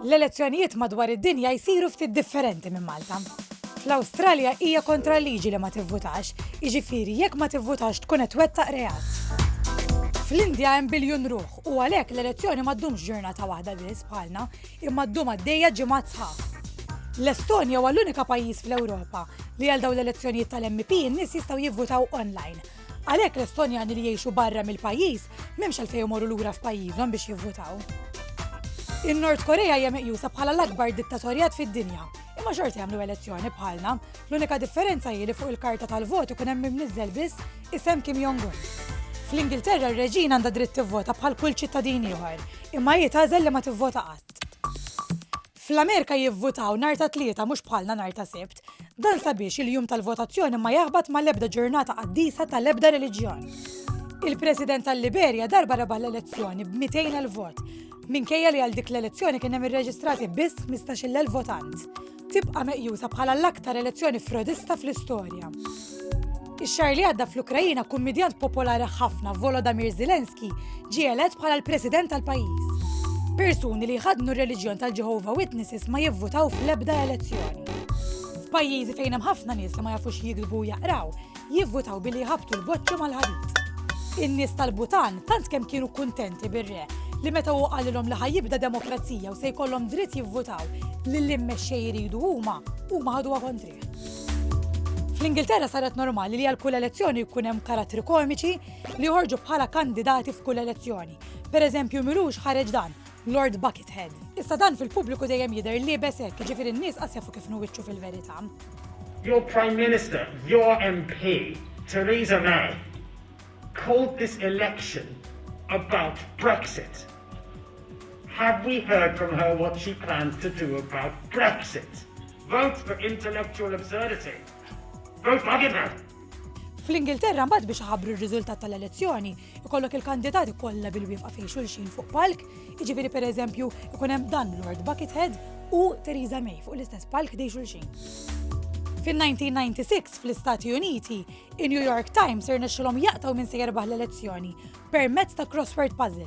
L-elezzjonijiet madwar id-dinja jsiru ftit differenti minn Malta. Fl-Awstralja hija kontra l-liġi li ma tivvutax, jiġifieri jekk ma tivvutax tkun qed twettaq reat. Fl-Indja hemm biljun ruħ u għalhekk l-elezzjoni ma ddumx ġurnata waħda biss bħalna, imma ddum għaddejja ġimgħat sħaħ. L-Estonja huwa l-unika pajjiż fl-Ewropa li għal dawn l-elezzjonijiet tal-MP n-nies jistgħu jivvutaw online. Għalhekk l-Estonjani li jgħixu barra mill-pajjiż m'hemmx għalfejn imorru lura f'pajjiżhom biex jivvutaw. In-Nord Korea hija meqjusa bħala l-akbar dittatorjat fid-dinja, imma xorta jagħmlu elezzjoni bħalna. L-unika differenza hi li fuq il-karta tal-vot ikun hemm imniżżel biss isem Kim Jong-un. Fl-Ingilterra r-reġina għandha dritt tivvota bħal kull ċittadin ieħor, imma hi tagħżel li ma tivvota qatt. Fl-Amerika jivvutaw nhar ta' Tlieta mhux bħalna nhar ta' Sibt. Dan sabiex il-jum tal-votazzjoni ma jaħbat ma' l-ebda ġurnata qaddisa ta' l-ebda reliġjon. Il-President tal-Liberja darba rebaħ l-elezzjoni b' 200,000 vot, minkejja li għal dik l-elezzjoni kien hemm irreġistrati biss 15,000 votant. Tibqa' meqjusa bħala l-aktar elezzjoni frodista fl-istorja. Ix-xahar li għadda fl-Ukraina kummidjant popolari ħafna Volodymyr Zelensky ġie elett bħala l-President tal-pajjiż. Persuni li jħaddnu r-reliġjon tal-Jehovah Witnesses ma jivvutaw fl-ebda elezzjoni. F'pajjiżi fejn hemm ħafna nies li ma jafux jikdbu jaqraw, jivvutaw billi jħabtu l-boċċu mal-ħadid. In-nies tal-Butan tant kemm kienu kuntenti bir-re li meta hu qalilhom li ħajibda demokrazija u se jkollhom dritt jivvutaw li l-immexxej jridu huma, huma ħaduha kontri. Fl-Ingilterra saret normali li għal kull elezzjoni jkun hemm karattri komiċi li joħorġu bħala kandidati f'kull elezzjoni. Per eżempju, Milux ħareġ dan, Lord Buckethead. Issa dan fil-pubbliku dejjem jidher li besek, ġifieri n-nies qas jafu kif nuwiċċu fil-verità. Your Prime Minister, your MP, Theresa May, called this election about Brexit. Have we heard from her what she plans to do about Brexit? Vote for intellectual absurdity. Vote bugging her! Fl-Ingilterra mbagħad biex iħabbru r-riżultat tal-elezzjoni, ikollok il-kandidati kollha bil-wifqa fejn xulxin fuq palk, jiġifieri pereżempju ikun hemm dan Lord Buckethead u Theresa May fuq l-istess palk dej xulxin. Fil-1996 fl-Istati Uniti, in-New York Times irnexxilhom jaqtaw minn se jerbaħ l-elezzjoni permezz ta' crossword puzzle.